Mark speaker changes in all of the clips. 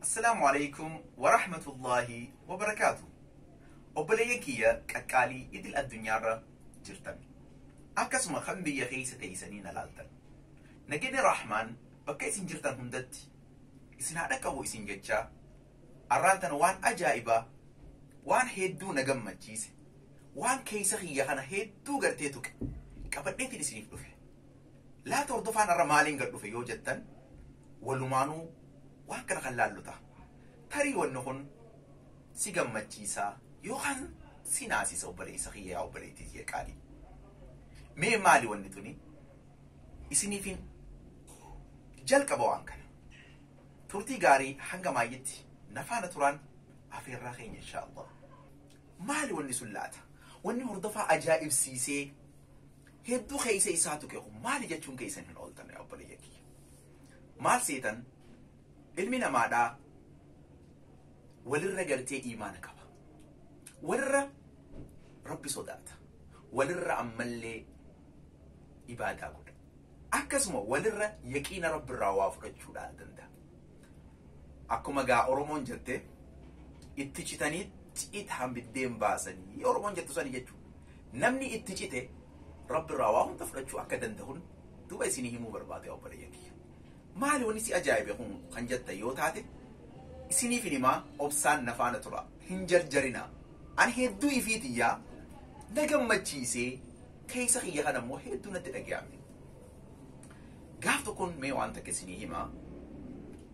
Speaker 1: Assalaamu alaikum wa rahmatullaahi wa barakaatu. Obboleeyyan kiyya qaqqaalii idil addunyaarra jirtan. Akkasuma kan biyya keessa teessanii na laaltan. Nageenyi Rahmaan bakka isin jirtan hundatti isin haa dhaqqabu isin jechaa arraan tana waan ajaa'ibaa waan hedduu na gammachiise waan keessa kiyya kana hedduu gartee tuqe qabadheetiin isiniif dhufe. Laata hordofaan har'a maaliin gad dhufe yoo jettan walumaanuu waan kana kan laallu ta'a. Tarii wanni kun si gammachiisaa yookaan si naasisa obboleessa kiyya yaa obboleettii kiyya qaalii. Mee maali wanni tuni? Isiniifin jalqaba waan kana. Turtii gaarii hanga maayyitti na faana turaan afeerraa keenya inshaa Allah. Maali wanni sun laata? Wanni hordofaa ajaa'ibsiisee Hedduu keessa isaa tuqe kun maali jechuun keessan hin ooltan yaa obboleeyyan kiyya. Maal seetan ilmi namaadhaa walirra gartee iimaana qaba. Walirra rabbi sodaata. Walirra ammallee ibaadaa godha. Akkasuma walirra yaqiina rabbirraa waa fudhachuudhaan danda'a. Akkuma gaa Oromoon jette itti citanii citaan biddeen baasanii Oromoon jettu sani jechu. Namni itti cite Rabbi irraa waa hunda fudhachuu akka dandahun duba isinii himuu barbaade obboleeyyan kiyya. Maali wani si ajaa'ibe kun kan jettan yoo taate isiniif hin himaa obsaan na faana tura hin jarjarinaa. Ani hedduu ifii tiyyaa na gammachiisee keessa kiyya kana immoo hedduu natti dhagayame. Gaaf tokkoon mee waan takka isinii hima.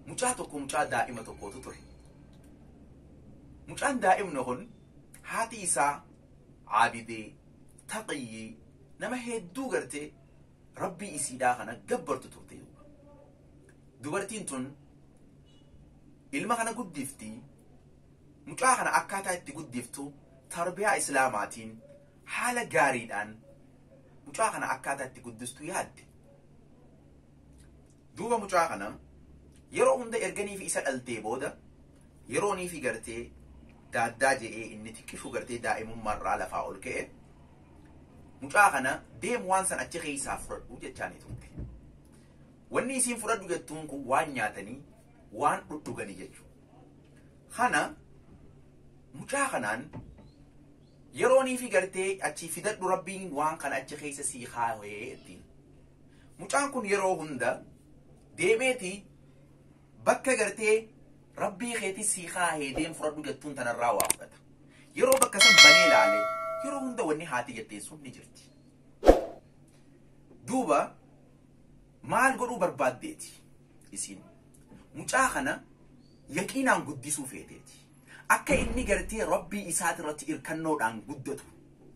Speaker 1: Mucaa tokko mucaa daa'ima tokkootu ture. Mucaan daa'imni kun haati isaa aabidee taqiyyii nama hedduu gartee rabbii isiidhaa kana gabbartu turte. Dubartiin tun ilma kana guddifti mucaa kana akkaataa itti guddiftu tarbiyaa islaamaatiin Haala gaariidhaan mucaa kana akkaataa itti guddistu yaadde. Duuba mucaa kana yeroo hunda erganiifi isa dhaltee booda yerooniifi gartee daaddaa je'ee inni xiqqishu gartee daa'imummaarraa lafaa ol ka'e mucaa kana deem waan san achi keessaa fudhadhu jechaanii turte. Wanni isiin fudhadhu jettuun kun waan nyaatanii waan dhudhuganii jechuudha. Kana mucaa kanaan Yeroo niifi gartee achii fidadhu rabbiin waan kana achi keessa sii kaawee ittiin. Mucaan kun yeroo hunda deemeeti bakka gartee rabbii keetii sii kaahee deem fudhadhu jettuun tanarraa waa fudhata. Yeroo bakka san banee laale yeroo hunda wanni haati jetteen sun ni jirti. Duuba maal godhuu barbaaddeeti isiin mucaa kana yaqiinaan guddisuu feeteeti. Akka inni gartee Rabbii isaati irratti irkannoodhaan guddatu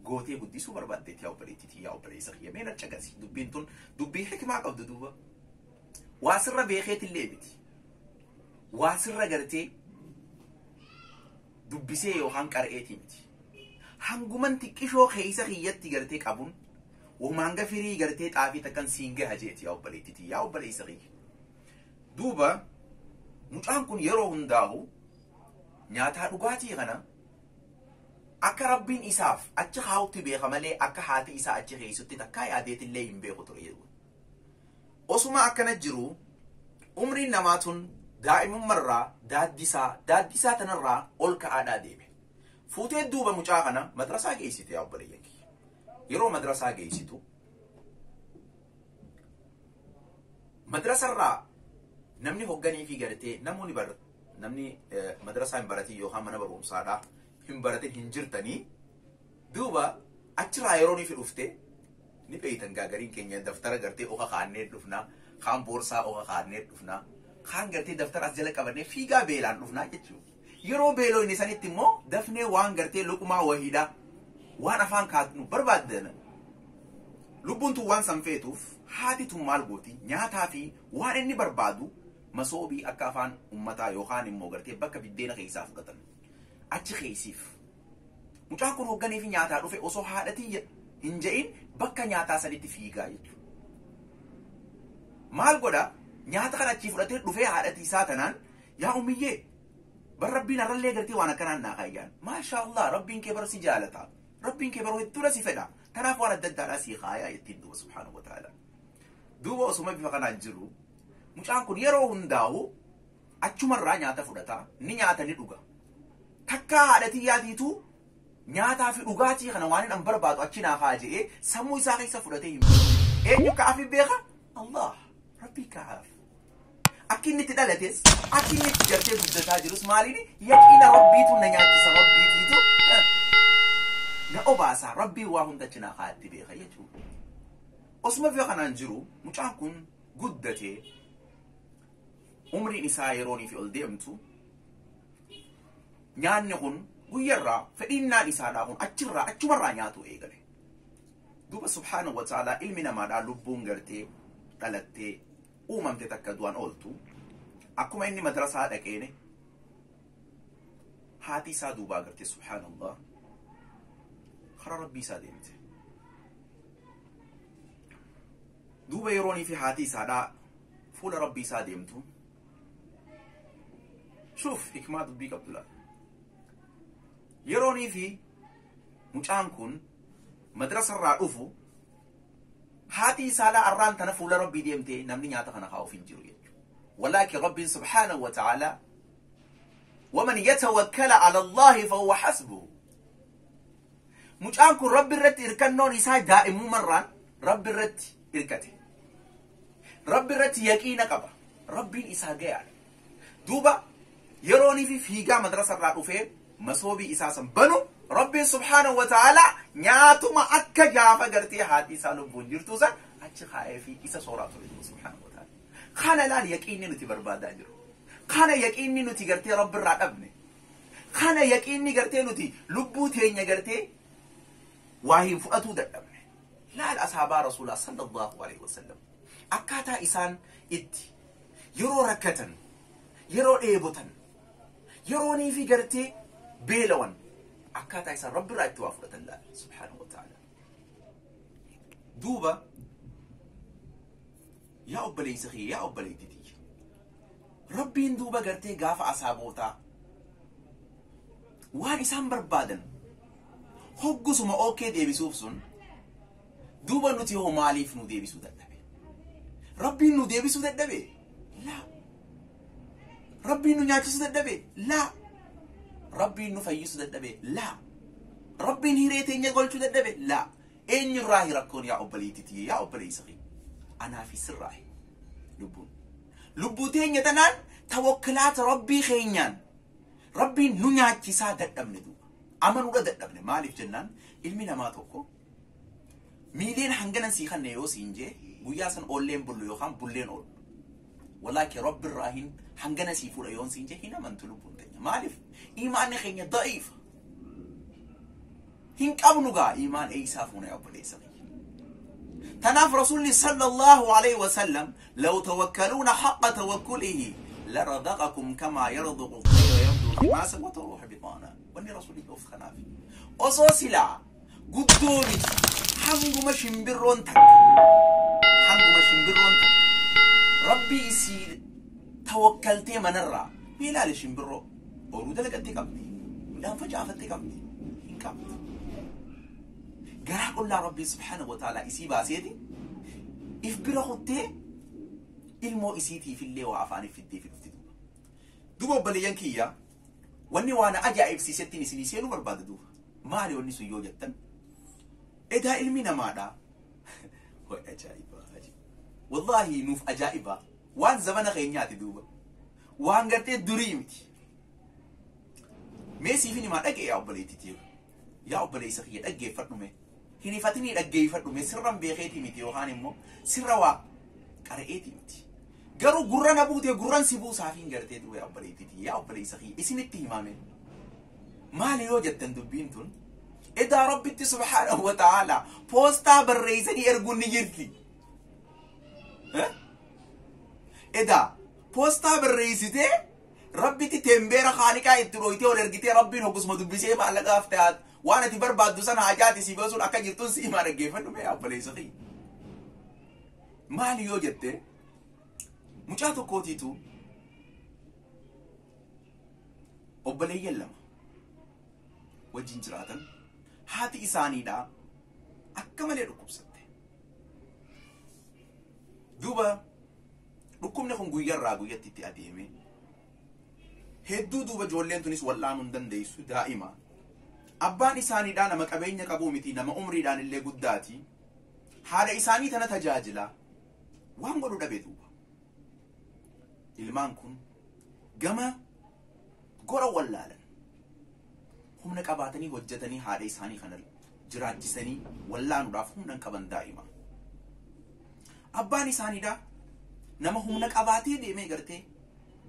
Speaker 1: gootee guddisuu barbaaddeeti yaa obboleettii tiyya yaa obboleessa kiyya mee na caqasi dubbiin tun dubbii hikimaa qabdu duuba waa sirra beekeetillee miti waa sirra gartee dubbisee yookaan qara'eetii miti hanguman xiqqishoo keessa kiyyatti gartee qabuun wamaan gafirii gartee xaafii takkan siin gaha jeeti yaa obboleettii tiyya yaa obboleessa kiyya Duuba mucaan kun yeroo hundaahu nyaataa dhugaatii kana akka rabbiin isaaf achi kaa'utti beeka malee akka haati isaa achi keessutti takkaa yaadeetillee hin beeku ture jedhu. Osuma akkana jiru umriin namaa tun daa'imummarraa daaddisaa daaddisaa tanarraa ol ka'aadhaa deeme. Fuutee duuba mucaa kana madrasaa geessite yaa obboleeyyan kiyya. Yeroo madrasaa geessitu Madrasa irraa namni hogganii fi gartee namoonni bar namni madrasaa hin baratin yookaan mana barumsaadhaa hin baratin hin jirtanii duuba achirraa yeroo nifi dhufte ni beeytan gaagariin keenya daftara gartee oka kaannee dhufnaa kaan boorsaa oka kaannee dhufnaa kaan gartee daftara as jala qabannee fiigaa beelaan dhufnaa jechuudha. Yeroo beeloyne sanitti immoo dafnee waan gartee luqmaa wahiidha waan afaan kaatnu barbaaddan lubbuun tun waan san feetuuf haati tun maal gooti nyaataa fi waan inni barbaadu masoobii akka afaan ummataa yookaan immoo gartee bakka biddeena keessaa fudhatan achi keessiif. Mucaan kun hoogganee fi nyaataa dhufe osoo haadhatii hin ja'in bakka nyaataa sanitti fiigaa jechuudha. Maal godha nyaata kana achii fudhatee dhufee haadhatii isaa tanaan Yaa ummiyyee bar rabbiin arrallee gartee waan akkanaan naa kaayyaan maashaa allah rabbiin kee bar si jaalata rabbiin kee baroo hedduudha si fedha tanaaf waan adda addaadhaa sii kaayaa jettiin duuba subhaanahu wa ta'ala duuba osuma bifa kanaan jiru mucaan kun yeroo hundaa'u achumarraa nyaata fudhata ni nyaata ni dhuga takkaa haadhatii yaadiitu nyaataa fi dhugaatii kana waan hin barbaadu achi naa haa je'ee sammuu isaa keessa fudhatee hin eenyu ka'aaf hin beeka allah rabbii ka'aaf Akka inni itti dhalates, akka inni itti gartee guddataa jirus maaliin yaqiina rabbiitu na nyaachisa rabbiitiitu eh, na obaasa rabbii waa hunda cinaa kaa'atti beeka jechuudha. Osuma biyya kanaan jiru mucaan kun guddatee umriin isaa yeroonii fi ol deemtu nyaanni kun guyyarraa fedhiinnaan isaadhaa kun achirraa achumarraa nyaatu eegale. Duuba subhaanahu wa ta'aalaa ilmi namaadhaa lubbuun gartee dhalattee uumamte takka du'an ooltu akkuma inni madrasaa dhaqeene haati isaa duubaa garte subhaanallah karaa rabbii isaa deemte duuba yeroonii fi haati isaadhaa fuula rabbii isaa deemtu shuuf hikmaa dubbii qabdu laata yeroonii fi mucaan kun madrasarraa dhufu Haatii saalaa arraan tana fuula Rabbii deemtee namni nyaata kana kaa'uuf hin jiru jechuudha. Walaakin Rabbiin subhaanahu wa ta'ala waman yatawakkala ala Allahi fahuwa hasbuhu. Mucaan kun Rabbi irratti hirkannoon isaa daa'immumarraan Rabbi irratti hirkate. Rabbi irratti yaqiina qaba. Rabbiin isaa gayaadha. duuba yeroonii fi fiigaa madrasa irraa dhufee masoobii isaa san banu rabbiin subhaanahu wa ta'aalaa nyaatuma akka gaafa gartee haati isaa lubbuun jirtu san achi kaa'ee fi isa sooraa ture jiru subhaanahu wa ta'aalaa kana laal yaqiinni nuti barbaadaa jiru kana yaqiinni nuti gartee rabbi irraa dhabne kana yaqiinni gartee nuti lubbuu teenya gartee waa hin fudhatuu dadhabne laal asaabaa rasuulaa sallallahu alaihi wasallam akkaataa isaan itti Yeroo rakkatan, yeroo dheebotan, yeroonii fi gartee beelawan akkaataa isaan Rabbi irraa itti waa fudhatan laala. Subhaanahu wa ta'ala. Duuba yaa obboleessa kiyya yaa obboleetti tiyya. Rabbiin duuba gartee gaafa asaabootaa waan isaan barbaadan hoggusuma ookee deebisuuf sun Duuba nuti hoo maaliif nu deebisuu dadhabe? Rabbiin nu deebisuu dadhabe? Laa. Rabbiin nu nyaachisuu dadhabe? Laa. Rabbiin nu fayyisuu dadhabe? Laa. Rabbiin hiree teenya golchuu dadhabe? Laa. Eenyurraahi rakkoon yaa obboleettii tiyya yaa obboleessa kee? Anaa fi sirraahi. Lubbuun. Lubbuu teenya tanaan tawakkilaata Rabbii keenyaan Rabbiin nu nyaachisaa dadhabne duuba. Amanuudha dadhabne maaliif jennaan ilmi namaa tokko Miiliyoona hanganan sii kanne yoo siin jee guyyaa san oolleen bullu yookaan bulleen oolu. Walaa kee rabbi irraa hin hangana sii fuudha yoon siin jee hin amantu lubbuun teenya. Maaliif? Imaanni keenya da'iifa. Hin qabnu gaa imaan eeysaa fuuna yaa obboleessa kiyya. Tanaaf Rasuulli sallallahu alaihi wasallam law tawakkaluuna haqqa tawakkulihi larazaqakum kamaa yarzuqu tayra yabdu himaasa wa taruuha bixaana. Wanni Rasuulli of kanaaf. Osoo silaa guddoo miti hanguma shimbirroon takka hanguma shimbirroon takka rabbii isii tawakkaltee manarraa mee ilaali shimbirroo boruu dalagatti qabdi midhaan facaafatti qabdi hin qabdu garaa qullaa rabbii subhaanahu wa ta'aalaa isii baaseeti if bira kuttee ilmoo isiitiifillee waa afaaniif fiddee fi dhufti duuba obboleeyyan kiyyaa Wanni waa na ajaa'ibsiisettiin isinii seenuu barbaada duuba. Maali wanni sun yoo jettan? Edaa ilmi namaadha. Way ajaa'ibaa ajaa'ibaa. Wallaahi nuuf ajaa'ibaa. Waan zamana keenyaati duuba. Waan gartee durii miti. Mee siifin himaa dhaga'e yaa obboleettii tiyya. Yaa obboleessa kiyya dhaggeeffadhu mee. Hin hifatinii dhaggeeffadhu mee sirran beekeetii miti yookaan immoo sirra waa qara'eetii miti. Garuu gurra na buutee gurran si buusaaf hin gartee duwwee obboleettiitii yaa obboleessa kiyya isinitti himaame. Maali yoo jettan dubbiin tun edaa rabbitti subhaanahu wa ta'aala poostaa barreessanii erguun ni jirti. Edaa poostaa barreessitee Rabbitti teembeera haaliqaa itti dhooytee ol ergitee rabbiin hogusuma dubbisee maallaqaaf ta'aat waan ati barbaaddu sana hajaati siif osuun akka jirtun si himaa dhaggeeffadhu mee abboleessa kiyya. Maali yoo jette mucaa tokkootiitu obboleeyyan lama wajjin jiraatan haati isaaniidhaa akka malee dhukkubsatte. Duuba Dhukkubni kun guyyarraa guyyatti itti adeeme. Hedduu duuba ijoolleen tunis wal'aanuu hin dandeessu daa'ima. Abbaan isaaniidhaa nama qabeenya qabuu miti nama umriidhaan illee guddaati. Haadha isaanii tana tajaajila. Waan godhu dhabe duuba. Ilmaan kun gama gora wallaalan humna qabaatanii hojjetanii haadha isaanii kana jiraachisanii wallaanuudhaaf humna hin qaban daa'ima. Abbaan isaaniidha nama humna qabaatee deemee gartee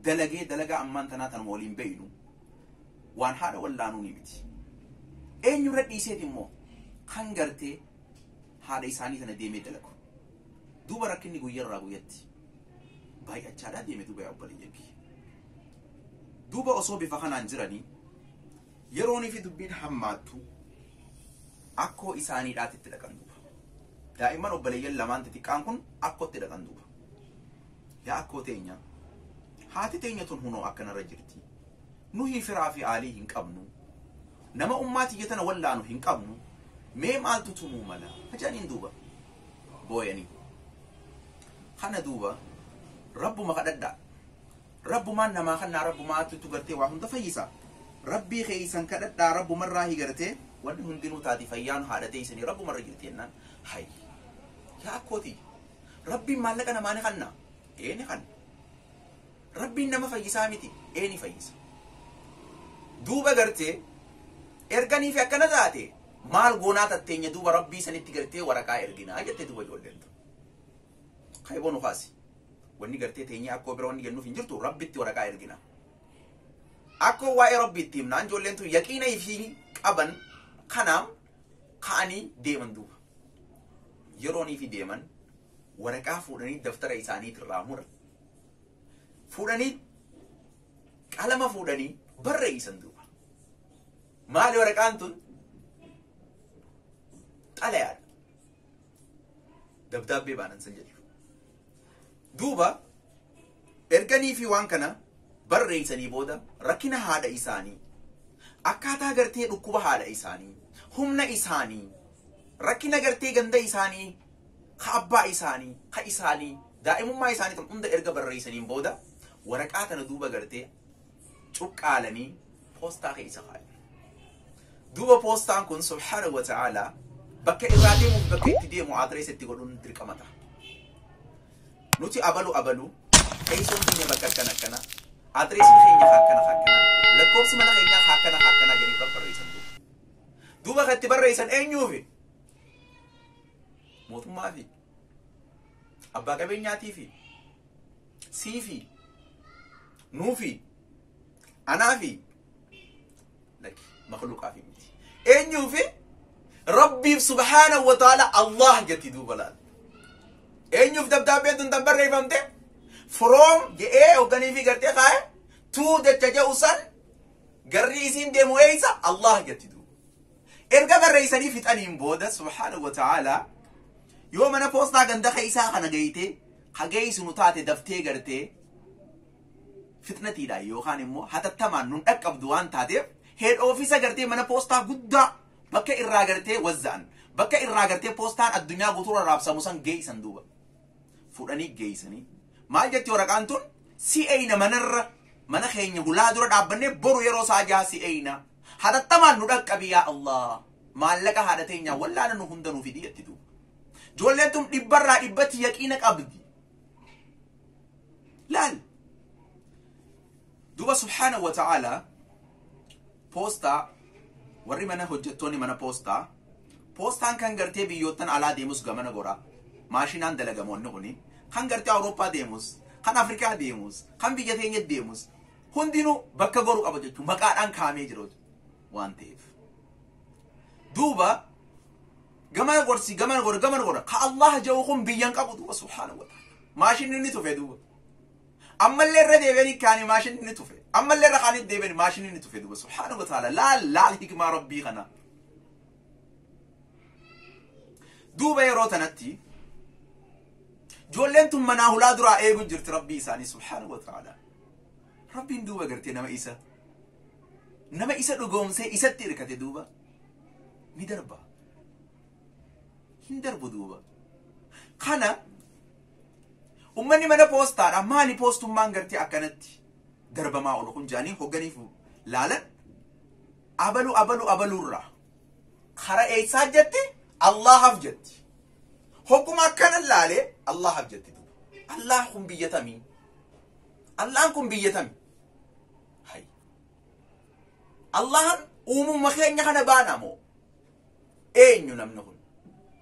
Speaker 1: dalagee dalagaa ammaan tanaa tanuma waliin beeynu waan haadha wallaanuu ni miti. Eenyurra dhiiseet immoo kan gartee haadha isaanii sana deemee dalagu. Duuba rakkinni guyyarraa guyyatti baay'achaadhaa deeme duuba yaa obboleeyyan kiyya. Duuba osoo bifa kanaan jiranii, yeroonii fi dubbiin hammaattu akkoo isaanii dhaatitti dhaqan duuba. Daa'imman obboleeyyan lamaan xixiqqaan kun akkootti dhaqan duuba. Yaa akkoo teenya, haati teenya tun hunoo akkanarra jirti. Nuhii firaa fi aalii hin qabnu. Nama ummaa tiyya tana wallaanu hin qabnu. Mee maaltu tumuu mala? Ajaaniin duuba. Booyanii. Kana duuba rabbuma kadhadhaa. Rabbumaan namaa kannaa Rabbumaattu gartee waa hunda fayyisa. Rabbii keessan kadhadhaa Rabbumarraahi gartee wanni hundinuu taati fayyaan haadha teessanii Rabbumarra jirti jennaan hayyi yaa akkoo tiyya Rabbiin maallaqa namaa ni kanna ee ni kanna Rabbiin nama fayyisaa miti ee ni fayyisa duuba gartee erganii fi akkana taate maal goonaa tatteenya duuba Rabbii sanitti gartee waraqaa erginaa jette duuba ijoolleen tun Kaiboo nu kaasi. Wanni gartee teenyee akkoo bira wanni jennuuf hin jirtu rabbitti waraqaa ergina. Akkoo waa'ee rabbii itti himnaan ijoolleen tun yaqiina ifii qaban kanaam ka'anii deeman duuba. Yeroon ifii deeman waraqaa fuudhanii daftara isaaniit irraa muran. Fuudhanii qalama fuudhanii barreessan duuba. Maali waraqaan tun? Xalayaadha. dabdaabbee baanan san jedhu duuba erganii fi waan kana barreeysanii booda rakkina haadha isaanii akkaataa gartee dhukkuba haadha isaanii humna isaanii rakkina gartee ganda isaanii ka abbaa isaanii ka isaanii daa'imummaa isaanii tan hunda erga barreeysaniin booda waraqaa tana duuba gartee cuqqaalanii poostaa keessa kaayan. Duuba poostaan kun subhaana wa ta'aala bakka irraa deemuuf bakka itti deemu adireessa itti godhuun dirqama ta'a. Nuti abalu abalu teessoon keenya bakka akkana akkana adireessi keenya akkana akkana lakkoofsi mana keenyaa akkana akkana jedhanii kan barreessan duuba. Duuba kan itti barreessan eenyuufi? Mootummaafi. Abbaa qabeenyaatiifi siifi nuufi anaafi laki makluuqaafi miti. Eenyuufi Rabbiif subhaanahu wa ta'ala Allah jetti duuba laal. Eenyuuf dabdaabbeen tun tan barreeffamte from je'ee hoogganiifi gartee kaa'e tuu jecha je'u san garri isiin deemu eeysa Allah jetti duuba. Erga barreessanii fixaniin booda subhaanahu wa ta'aalaa yoo mana poostaa ganda keessaa kana geeytee ka geeysinu taate daftee gartee fixnatiidhaan yookaan immoo hatattamaan nun dhaqqabdu waan taateef head office gartee mana poostaa guddaa bakka irraa gartee wazza'an bakka irraa gartee poostaan addunyaa guutuurra raabsamu san geeysan duuba. fudhanii geeysanii maal jetti waraqaan tun si eeyna manarra mana keenya hulaa dura dhaabbannee boru yeroo saa jaha si eeyna hatattamaan nu dhaqqabi yaa allah maallaqa haadha teenyaa wallaana nu hunda nu fidi jetti duuba joolleen tun dhibbarraa dhibbatti yaqiina qabdi laal duuba subhaanahu wa ta'aalaa Poostaa, Warri mana hojjettoonni mana poostaa, poostaan kan gartee biyyoottan alaa deemus gamana gora, maashinaan dalagama wanni kuni, kan gartee Awurooppaa deemus, kan Afrikaa deemus, kan biyya teenya deemus hundinuu bakka goru qaba jechuun maqaadhaan kaa'amee jira waan ta'eef. Duuba gamana gorsi gamana gora gamana gora ka Allah ja'u kun biyyan qabu duuba subhaanahu wa ta'ala. Maashinni inni tufe duuba. Ammallee irra deebi'anii kaanii maashinni ni tufe. Ammallee irra kaanii deebi'anii maashinni ni tufe duuba. Subhaana wa ta'ala laal laal hikmaa rabbii kana. Duuba yeroo tanatti ijoolleen tun manaa hulaa duraa eegu jirti rabbii isaanii subhaana wa ta'ala. Rabbiin duuba gartee nama isa nama isa dhugoomsee isatti hirkate duuba ni darba. Hin darbu duuba. Kana Ummanni mana poostaadha maali poostummaan gartee akkanatti darbamaa oolu kun jaanii hogganiif laalan abalu abalu abaluurraa kara eessaa jetti Allaahaf jetti. Hogguma akkana laale Allaahaf jetti. Allaah kun biyya tamii? Allahan kun biyya tamii? Hay. Allahan uumumma keenya kana baana moo? Eenyu namni kun?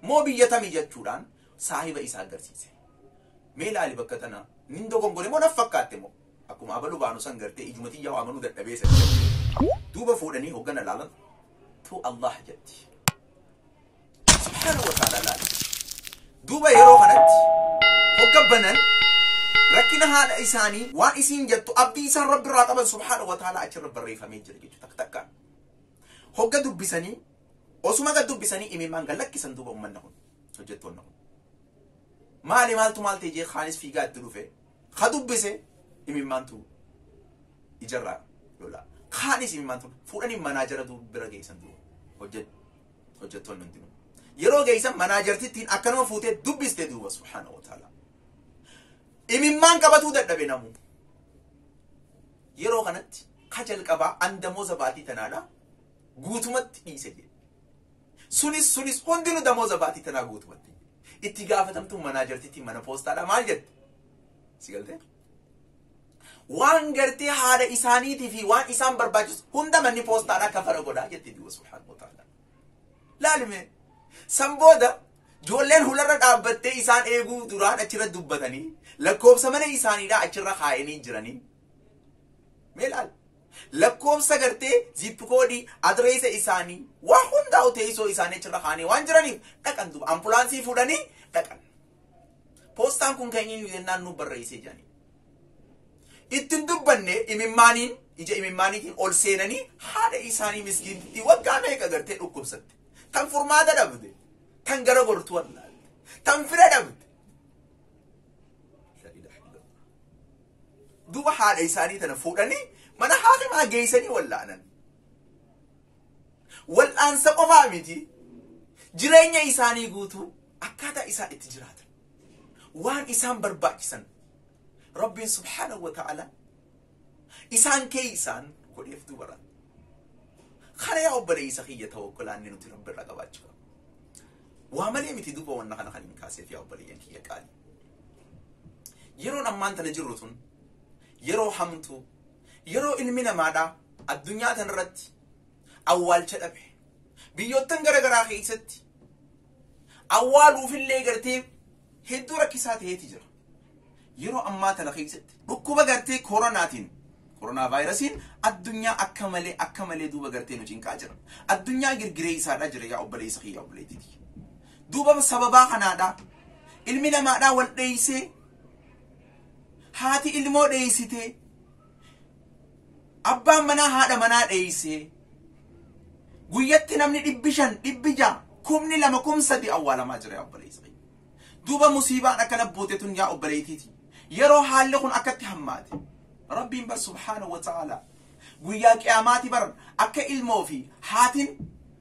Speaker 1: Moo biyya tamii jechuudhaan saahiba isaa agarsiise. Mee ilaali bakka tana nin dogongore moo naf fakkaatte moo akkuma abalu baanu san gartee ijuma tiyyaa waamanuu dadhabee san duuba fuudhanii hoggana laalan tu Allah jetti. Subhaana wa ta'ala laali. Duuba yeroo kanatti hogga banan rakkina haadha isaanii waan isiin jettu abdii isaan rabbi irraa qaban subhaana wa ta'ala achirra barreeffamee jira jechuudha takka takkaan. Hogga dubbisanii osuma gad dubbisanii imimmaan gad lakkisan duuba ummanna kun. hojjettoonni kun. Maali maaltu maal ta'e jee kaanis fiigaa itti dhufe ka dubbise imimmaantu ijarraa lolaa. Kaanis imimmaantu fuudhanii manaa jara du- bira geessan duuba hojjet hojjettoonni hundinuu. Yeroo geessan manaa jartittiin akkanuma fuutee dubbiste duuba subhaana wa ta'ala. Imimmaan qabatuu dadhabe namuu. Yeroo kanatti ka jalqabaa andamoo zabaatii tanaadha guutumatti dhiise jedhe. Sunis sunis hundinu damooza baatii tanaa guutumatti. Itti gaafatamtuun manaa jartittiin mana poostaadha maal jette? Si galtee? Waan gartee haadha isaaniitii fi waan isaan barbaachisu hunda manni poostaadha kafara godhaa jette duuba subhaanahu wa ta'ala. Laalime san booda joolleen hularra dhaabbattee isaan eeguu duraan achirra dubbatanii lakkoobsa mana isaaniidhaa achirra kaa'anii jiranii. Mee laal Lakkoofsa gartee zip koodii adireesa isaanii waa hundaa'u teessoo isaanii achirra kaa'anii waan jiraniif dhaqan duuba ambulaansii fuudhanii dhaqan. Poostaan kun kan eenyu jennaan nu barreessee jedhanii. Ittiin dubbanne imimmaaniin ija imimmaaniitiin ol seenanii haadha isaanii miskiinti waggaa meeqa gartee dhukkubsatte. Tan furmaata dhabde. Tan gara gortuu allaalte. Tan fira dhabde. Duuba haadha isaanii tana fuudhanii mana haakimaa geeysanii wal'aanan. Wal'aansa qofaa miti jireenya isaanii guutuu akkaataa isaan itti jiraatan waan isaan barbaachisan Rabbiin subhaanahu wa ta'ala isaan keeysaan godheef dubara. Kana yaa obboleeysa kiyya tawakkulaanni nuti Rabbi irraa qabaachuu qabna. Waa malee miti duuba wanna kana kan hin kaaseef yaa obboleeyyan kiyya qaalii. Yeroon ammaan tana jirru tun yeroo hamtuu yeroo ilmi namaadhaa addunyaa tanarratti awwaalcha dhabe biyyoottan gara garaa keessatti awwaaluufillee gartee hedduu rakkisaa ta'eeti jira. Yeroo ammaa tana keessatti dhukkuba gartee koronaatiin koronaa vaayirasiin addunyaa akka malee akka malee duuba gartee nu cinqaa jira. Addunyaa girgiree isaadhaa jira yaa obboleessa kiyya obboleettii kiyya. Duuba sababaa kanaadhaa ilmi namaadhaa wal dheeysee haati ilmoo dheeysitee abbaan manaa haadha manaa dheeysee guyyatti namni dhibbi shan dhibbi ja'a kumni lama kum sadi awwaalamaa jira yaa obboleeysa kiyya. Duuba musiibaan akkana buute tun yaa obboleeytiiti yeroo haalli kun akkatti hammaate rabbiin bar subhaanahu wa ta'aalaa guyyaa qiyaamaati bar akka ilmoo fi haatin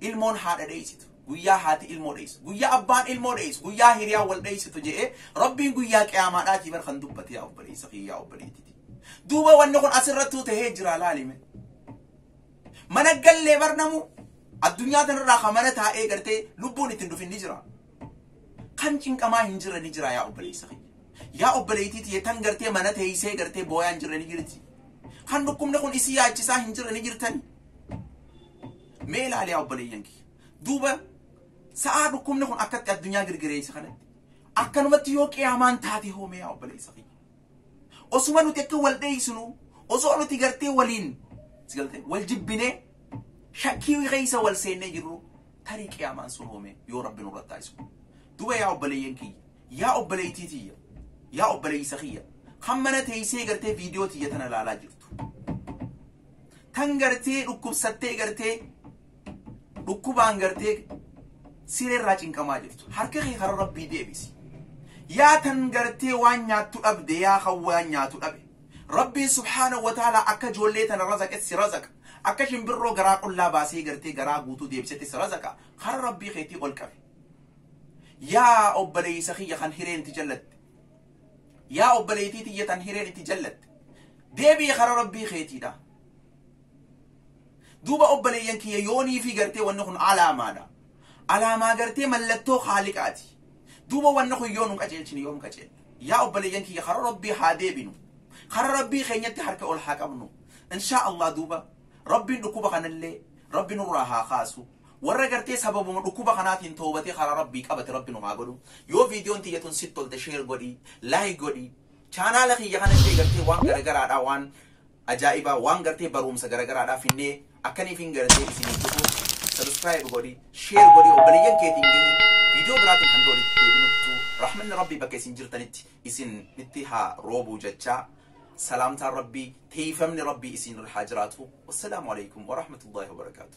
Speaker 1: ilmoon haadha dheeysitu, guyyaa haati ilmoo dheeysu, guyyaa abbaan ilmoo dheeysu, guyyaa hiriyaan wal dheeysitu je'ee Rabbiin guyyaa qiyaamaadhaatii bar kan dubbate yaa obboleeysa kiyya yaa obboleettiti. Duuba wanni kun asirrattuu tahee jira laalime. Mana gallee bar namu addunyaa tanarraa ka mana taa'ee gartee lubbuun ittiin dhufin ni jira. Kan cinqamaa hin jirre ni jira yaa obboleeysa kiyya. Yaa obboleettiti tan gartee mana teeysee gartee booyaa hin jirre ni jirti. Kan dhukkubni kun isii yaachisaa hin jirre ni jirtani. Mee ilaali yaa obboleeyyan kiyya. Duuba sa'aa dhukkubni kun akkatti addunyaa girgireessa kanatti akkanumatti yoo qiyaamaan taate hoo mee yaa obboleessa kiyya. Osuma nuti akka wal dheeysinu osoo nuti gartee waliin si galtee wal jibbinee shakkii keessa wal seennee jirru tarii qiyaamaan sun hoo mee yoo rabbi nurra taasisu. Duuba yaa obboleeyyan kiyya yaa obboleeytii tiyya yaa obboleeysa kiyya kan mana teeysee gartee viidiyoo tiyya tana ilaalaa jirtu. Tan gartee dhukkubsattee gartee dhukkubaan gartee siree irraa cinqamaa jirtu. Harka kee karaa rabbii deebisi. Yaa tan gartee waan nyaattu dhabde yaa kan waan nyaatu dhabe. Rabbiin subhaanahu wa ta'ala akka ijoollee tana razaqetti si razaqa. Akka shimbirroo garaa qullaa baasee gartee garaa guutuu deebisetti si razaqa. Karaa rabbii keetii ol qabi. Yaa obboleessa kiyya kan hireen ti jallatte. Yaa obboleeytii tiyya tan hireen itti jallatte, deebi'i kara Rabbii keetiidha. Duuba obboleeyyan kiyya yoo niifii gartee wanni kun alaamaadha. Alaamaa gartee mallattoo Khaaliqaati. Duuba wanni kun yoo nun qaceelchine yoom qaceella? Yaa obboleeyyan kiyya kara Rabbii haa deebinu. Kara Rabbii keenyatti harka ol haa qabnu. Inshaa Allah duuba Rabbiin dhukkuba kanallee Rabbi nurraa haa kaasu. Warra gartee sababuma dhukkuba kanaatiin toobatee karaa rabbii qabate rabbi nu haa godhu. Yoo viidiyoon tiyya tun sitti tolte sheer godhi, laayik godhi. Chaanaala kiyya kana illee gartee waan garagaraadhaa waan ajaa'ibaa waan gartee barumsa garagaraadhaa finnee akkaniif hin gartee isiniif dhufu sabiskiraayib godhi, sheer godhi obboleeyyan keetiin gahi. Viidiyoo biraatiin hanga walitti deebinuttu rahmanni rabbii bakka isin jirtanitti isin itti haa roobuu jechaa. Salaamtaan rabbii, teeyfamni rabbii isin irra haa jiraatu. Wassalaamu alaikum wa rahmatullahi wa barakaatu.